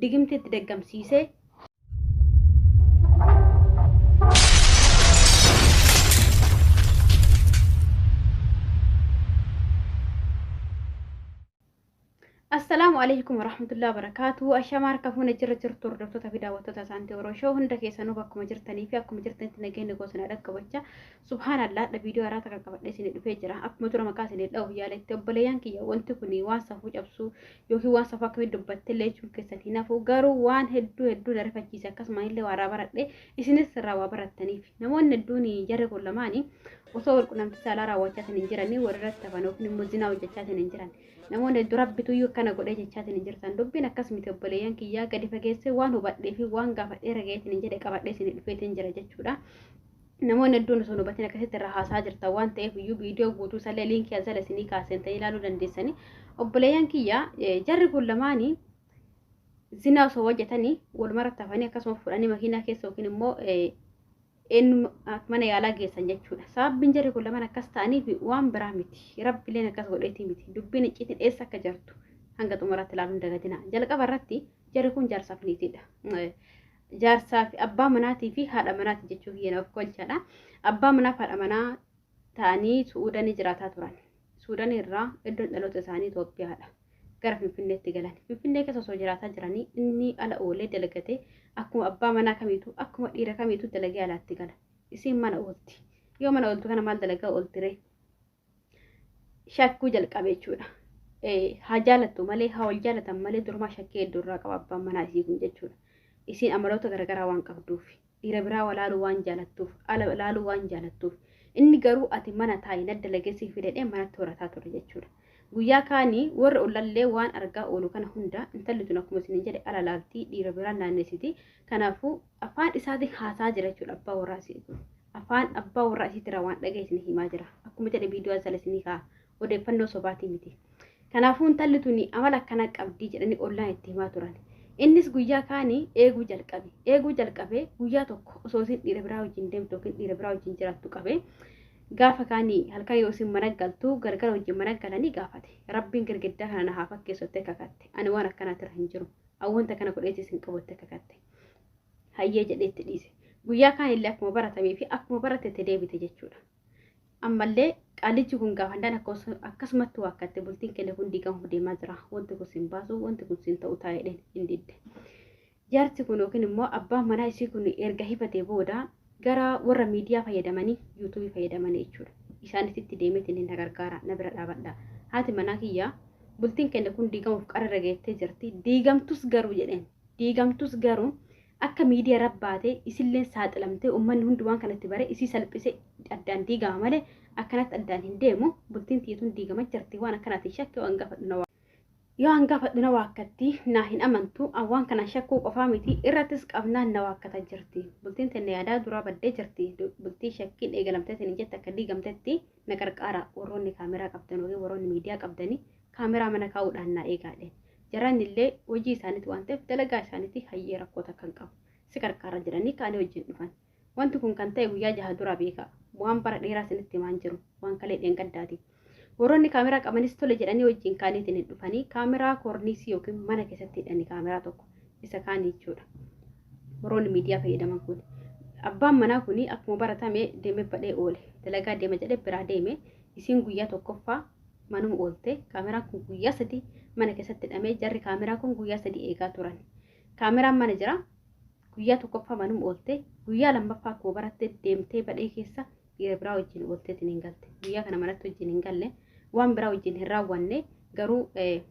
digimtitti daggamsiisee Assalaamu alaikum warahmatullahi wabarakatuh. Ashamaa harka fuuna jirra jirtu hordoftoota fi daawwattoota isaanti yeroo shoo hunda keessanuu bakkuma jirtanii fi akkuma jirtanitti nageenya gosanaa dhaqqabacha. Subhaanallah dha viidiyoo haaraa takka qabadhee isinii dhufee jira. Akkuma dura maqaa isinii dha'uuf yaaletti obboleeyyan kiyya wanti kun waan safuu cabsuu yookiin waan safuu akkamitti dubbatte illee jechuun keessan hin hafu garuu waan hedduu hedduu na rifachiise akkasuma illee waa irraa baradhe isinis irraa waa barattaniif namoonni hedduun jarri kun lamaanii osoo wal qunnamtii saalaa raawwachaa hin jiranii walirratti hafan yookiin immoo zinaa hojjechaa hin jiran namoonni hedduu rabbitu iyyuu akkana godhee jechaa hin jirtan dubbiin akkas miti obboleeyyan kiyyaa gadi fageessee waan hubadhee fi waan gaafadhee ragayeetiin hin jedhe qabadhee isin dhufeetiin jira jechuudha. Namoonni hedduun osoo hin hubatin akkasitti irraa haasaa jirtan waan ta'eef iyyuu viidiyoo guutuu isallee liinkii as jala isinii kaasentanii ilaaluu dandeessanii. Obboleeyyan kiyya jarri kun lamaanii zinaa osoo hojjetanii walumarratti hafanii akkasuma fudhanii makiinaa keessa yookiin immoo eenyu mana yaalaa geessan jechuudha. Sababbiin jarri kun lamaan akkas ta'aniif waan biraa miti. Rabbileen akkas godheetii miti. Dubbiin icciitiin eessa akka jirtu hanga xumuraatti ilaaluun dagadina. Jalqaba irratti jarri kun jaarsaaf niitiidha. Jaarsaa fi abbaa manaatii fi haadha manaati jechuu kiyya na ofkolchadha. Abbaa manaaf haadha manaa ta'anii Su'uudanii jiraataa turan. Suudanii irraa iddoon dhaloota isaanii Itoophiyaadha. Gara Finfinneetti galan. Finfinnee keessa osoo jiraataa jiranii inni ala oolee dalagatee akkuma abbaa manaa kamiitu akkuma dhiira kamiitu dalagee alaatti gala. Isiin mana oolti. Yoo mana ooltu kana maal dalagaa ooltiree? shakkuu jalqabe jechuudha. Haa jaalattu malee haa wal jaalatan malee durumaa shakkii hedduu irraa qaba abbaan manaa isii kun jechuudha. Isiin amaloota garaagaraa waan qabduuf dhiira biraa walaaluu waan jaalattuuf ala ilaaluu waan jaalattuuf inni garuu ati mana taa'i na dalageessii fidadhee manatti horataa ture jechuudha. Guyyaa kaanii warra ollallee waan argaa oolu kana hunda intalli tun akkuma isin jedhe ala laaltii dhiira biraa naanneessiti. Kanaafuu afaan isaatiin haasaa jira jechuudha abbaa warraa isii kun. Afaan abbaa warraa isiitirraa waan dhaga'e isin himaa jira. Akkuma jedhe viidiyoo asala isinii kaa'a. Odeeffannoo sobaatii miti. Kanaafuu intalli tuni amala akkana qabdii jedhanii ollaan itti himaa turan. Innis guyyaa kaanii eeguu jalqabe. Eeguu jalqabee guyyaa tokko osoo isin dhiira biraa wajjin deemtu yookiin dhiira biraa wajjin jiraattu qabe. Gaafa kaanii halkan yoo isin mana galtu galgala wajjin mana galanii gaafate. Rabbiin girgiddaa kana na haa fakkeessu jettee kakatte. Ani waan akkanaatirra hin jiru. Wanta kana godheetis hin qabu jettee kakatte. hayyee jedhee itti dhiise guyyaa kaan illee akkuma baratamee fi akkuma barate itti deebite jechuudha ammallee qaalichi kun gaafandaan akkasumatti waa akkatte bultiin kenne kun diigamu deemaa jira wanti kun siin baasu wanti kun siin ta'u taa'edheen hin didde jaarsi kun yookiin immoo abbaan manaa isii kun erga hifatee booda Gara warra miidiyaa fayyadamanii youtube fayyadamani jechuudha. Isaanitti itti deemeetiin na gargaara na bira dhaabadha. Haati manaa kiyya bultiin keenya kun diigamuuf qara irra geettee jirti. Diigamtus garuu jedheen. Diigamtus garuu akka miidiya irra baate isilleen saaxilamtee ummanni hundi waan kanatti bare isii salphise addaan diigama malee akkanatti addaan hin deemu. Bultiin tiyya tun diigama jirti waan akkanaatiin shakke waan gaafadhu na Yoo an gaafadhu na waakkatti, naa hin amantu, an waan kanaan shakkuu qofaa miti, irrattis qabnaan na waakkata jirti. Bultiin teenna yaadaa duraa baddee jirti, bultii shakkiin eegalamtee isiniin jette akka diigamtetti na qarqaara, warroonni kaameraa qabdan ykn warroonni miidiyaa qabdani kaameraa mana kaa'uudhaan naa eegaa jedheen. Jarranillee hojii isaaniiti waan ta'eef dalagaa isaaniiti hayyee rakkoo takka hin qabu, si qarqaarra jedhanii ka'anii wajjin dhufan. Wanti kun kan ta'e guyyaa jaha dura beekaa. Waan bara dheeraa isinitti himaa hin jiru. Waan kalee dheengaddaati. Warroonni kaameraa qabanis tole jedhanii wajjin kaaniitiin hin dhufanii kaameraa koorniisii yookiin mana keessatti hidhanii kaameraa tokko isa kaanii jechuudha. Warroonni miidiyaa fayyadaman kun. Abbaan manaa kun akkuma baratame deemee badhee oole. Dalagaa deema jedhee biraa deeme. Isiin guyyaa tokkoffaa manuma oolte. Kaameraan kun guyyaa sadii mana keessatti hidhamee jarri kaameraa kun guyyaa sadii eegaa turan. Kaameraan mana jira. Guyyaa tokkoffaa manum oolte. Guyyaa lammaffaa koo baratte deemtee badhee keessa dhiira biraa wajjin oolteetiin hin galte. Guyyaa kana manatti wajjin hin galle. Waan biraa wajjin hin raawwanne. Garuu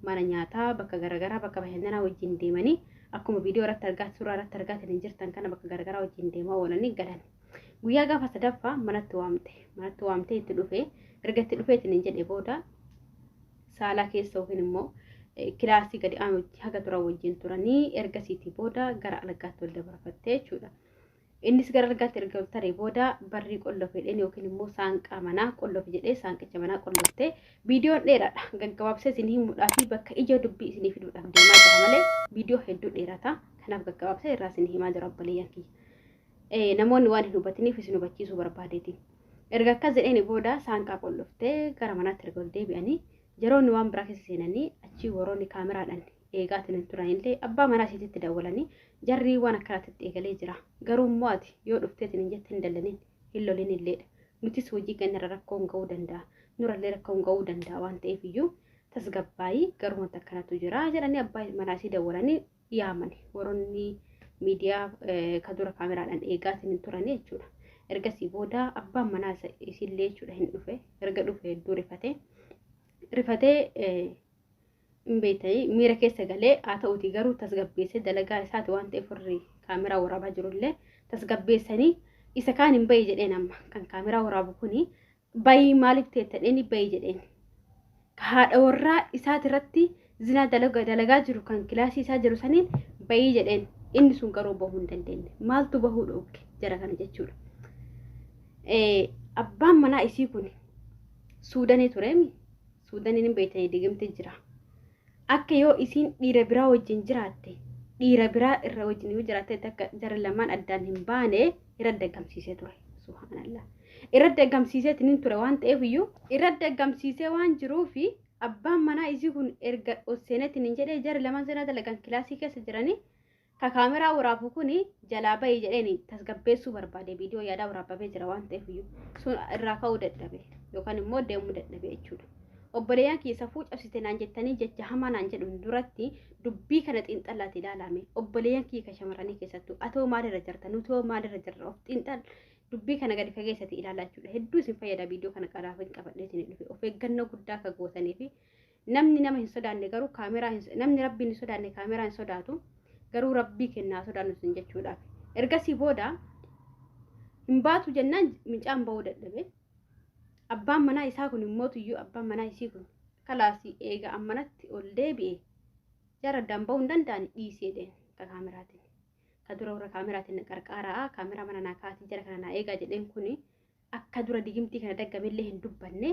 mana nyaataa bakka garagaraa bakka bashannanaa wajjin deemanii akkuma viidiyoo irratti argaa suuraa irratti argaatiin hin jirtan kana bakka garagaraa wajjin deemaa oolanii galan. Guyyaa gaafa sadaffaa manatti waamte. Manatti waamtee itti dhufe. Erga itti dhufeetiin hin jedhe booda saalaa keessa yookiin immoo kilaasii gadi aanutti haga turan wajjin turanii ergasiitii booda gara algaatti wal dabarfattee jechuudha. Innis gara algaatti erga taree booda barrii qollof jedheen yookiin immoo saanqaa manaa qollof jedhee saanqicha manaa qolloftee viidiyoon dheeraadha. Gaggabaabsee isin hin mudhaafii bakka ijoo dubbii isinii fiduudhaaf deemaa jira malee viidiyoo hedduu dheerata. Kanaaf gaggabaabsee irraa isin himaa jira obboleeyyan kiyya. Namoonni waan hin hubatiniif isin hubachiisuu barbaadeeti. Erga akkas jedheeni booda saanqaa qolloftee gara manaatti erga ol deebi'anii jaroonni waan biraa keessa seenanii achii warroonni kaameraadhaan eegaatiin hin turanillee abbaa manaa isiititti dawwalanii jarrii waan akkanaatitti eegalee jira. Garuu immoo ati yoo dhufteetiin hin jette hin dallaniin hin loliin illeedha. Nutis hojii keenyarra rakkoon ga'uu danda'a. Nurallee rakkoon ga'uu danda'a waan ta'eef iyyuu tasgabbaa'ii garuu wanta akkanatu jira jedhanii abbaa manaa isii dawwalanii yaaman waronni miidiyaa ka dura kaameraadhaan eegaa isin hin turanii jechuudha. Ergasii booda abbaan manaa isa isillee jechuudha hin dhufe. Erga dhufe hedduu rifatee rifatee hin beektanii miira keessa galee haa ta'uti garuu tasgabbeessee dalagaa isaati waan ta'eef warri kaameraa waraabaa jirullee tasgabbeessanii isa kaan hin bahe jedheen amma kan kaameraa waraabu kuni bayii maaliif teetta dheeni bayii jedheen ka haadha warraa isaati irratti zinaa dalaga dalagaa jiru kan kilaasii isaa jiru saniin bayii jedheen inni sun garuu bahuu hin dandeenye maaltu bahuu dhoogge jara kana jechuudha. Eh, Abbaan manaa isii kun suudanii tureemi suudaniin hin beeytanii digimti jira. Akka yoo isiin dhiira biraa wajjin jiraatte, dhiira biraa irra wajjin yoo jiraattetti akka jarri lamaan addaan hin baane irratti daggamsiisee ture. Subhaanallah. Irratti daggamsiiseetiin hin ture waan ta'eef iyyuu irratti daggamsiisee waan jiruufi abbaan manaa isii kun erga ol seeneetiin hin jedhee jarri lamaan zinaa dalagan kilaasii keessa jiranii Ka camera waraabu kuni jalaa bahi jedheeni tasgabbeessuu barbaade video yaadaa waraabbamee jira waan ta'eef iyyuu sun irraa ka'uu dadhabe yookaan immoo deemuu dadhabe jechuudha. Obboleeyyan kiyya safuu cabsite naan jettanii jecha hamaa naan jedhuun duratti dubbii kana xiinxallaati ilaalaame obboleeyyan kiyya ka shamarranii keessattuu atoo maalirra jirta nutoo maalirra jirra of xiinxal dubbii kana gadi fageessati ilaalaa jechuudha. Hedduu isin fayyada video kana qaraafin qabadhee isin dhufe of eeggannoo guddaa akka gootanii fi Namni nama hin sodaanne garuu kaameraa hin namni rabbiin hin sodaanne kaameraa hin sodaatu garuu rabbii kennaa sodaannu sin jechuudhaaf ergasii booda hin baatu jennaan mincaan ba'uu dadhabe abbaan manaa isaa kun immoo tuyyuu abbaan manaa isii kun kalaasii eega ammanatti ol deebi'e jara addaan ba'uu hin danda'ani dhiisee deema ka kaameraatiin ka dura warra kaameraatiin na qarqaaraa kaameraa mana naa kaatii jara kana naa eegaa jedheen kuni Akka dura digimtii kana daggamellee hin dubbanne.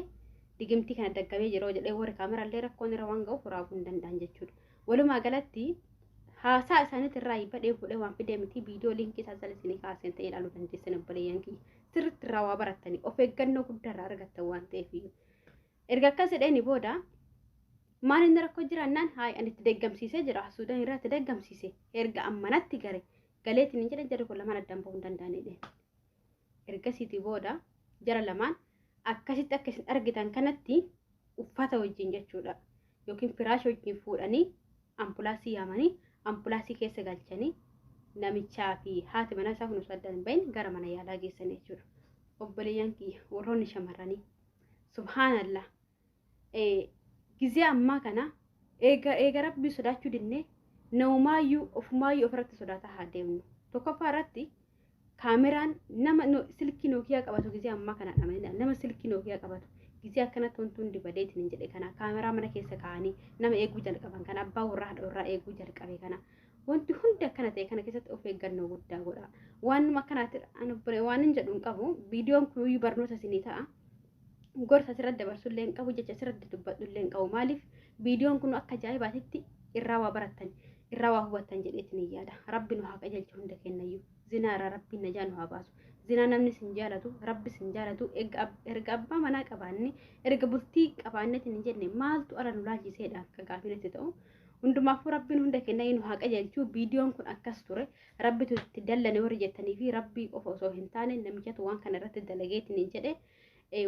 Digimtii kana daggamee jira jedhee warri kaameraallee rakkoon irra waan ga'uuf raaguu hin danda'an jechuudha. Walumaa galatti haasaa isaaniitti irraa badhee bu'ee waan fidee miti viidiyoo liinkii isaa jala isinii kaaseen ta'ee ilaaluu dandeessan obboleeyyan kiyya. Sirriitti irraa waa barattanii of eeggannoo guddaa irraa argattan waan ta'eef iyyuu. Erga akkas jedheeni booda maal inni rakkoo jiraannaan haay ani itti deggamsiisee jira suudaan irraa itti deggamsiise erga ammanatti gare galeetiin hin jedhan jedhu kun lamaan addaan bahuu hin danda'anidha. Ergasiiti booda jara lamaan akkasitti akka isin argitan kanatti uffata wajjin jechuudha yookiin firaasha wajjin fuudhanii ambulaansii yaamanii ambulaansii keessa galchanii namichaa fi haati manaa isaa kun osoo addaan hin bahin gara mana yaalaa geessan jechuudha. Obboleeyyan kiyya warroonni shamarranii subhaanallah gizee ammaa kana eega eega rabbii sodaachuu dinne naumaayyuu ofumaayyuu ofirratti sodaataa haa deemnu tokkoffaa irratti kaameraan nama silkii nookiyaa qabatu gizee ammaa kana dhamanii nama silkii nookiyaa qabatu gizee akkana tontuun dibadeetiin hin jedhe kana kaameraa mana keessa kaa'anii nama eeguu jalqaban kana abbaa warraa haadha warraa eeguu jalqabe kana wanti hundi akkana ta'e kana keessatti of eeggannoo guddaa godha waanuma akkanaatti waan hin jedhu hin qabu viidiyoon kun barnoota isinii ta'a gorsa asirratti dabarsullee hin qabu jecha asirratti dubbadhullee hin qabu maaliif viidiyoon kun akka ajaa'ibaatitti irraa waa barattan irraa waa hubattan jedheetiin hin yaada rabbi nu haa qajeelchu hunda kennayyuu zinaa irraa rabbiin najaa nu haa baasu zinaa namni sin jaalatu rabbi sin jaalatu erga abbaa manaa qabaanne erga bultii qabaannetiin hin jenne maaltu ala nu laalchiseedha akka gaafinetti ta'u hundumaafuu rabbiin hunda kennayyuu nu haa qajeelchu viidiyoon kun akkas ture Rabbitu itti dallane warri jettanii fi rabbii qofa osoo hin taane namichatu waan kana irratti dalageetiin hin jedhe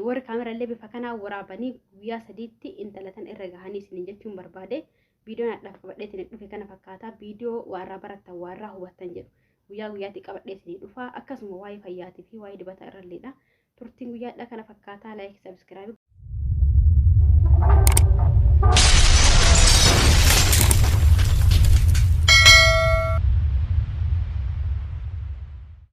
warri kaamerallee bifa kanaa waraabanii guyyaa sadiitti intalatan irra gahanii isin jechuun barbaade viidiyoon hadhaaf qabadheetiin dhufe kana fakkaataa viidiyoo waarraa barattan waarraa hubattan jedhu guyyaa guyyaatti qabadheetiin dhufaa akkasuma waa'ee fayyaatii fi waa'ee dibata irralleedha Turtiin guyyaa hadhaa kana fakkaataa like subscribe.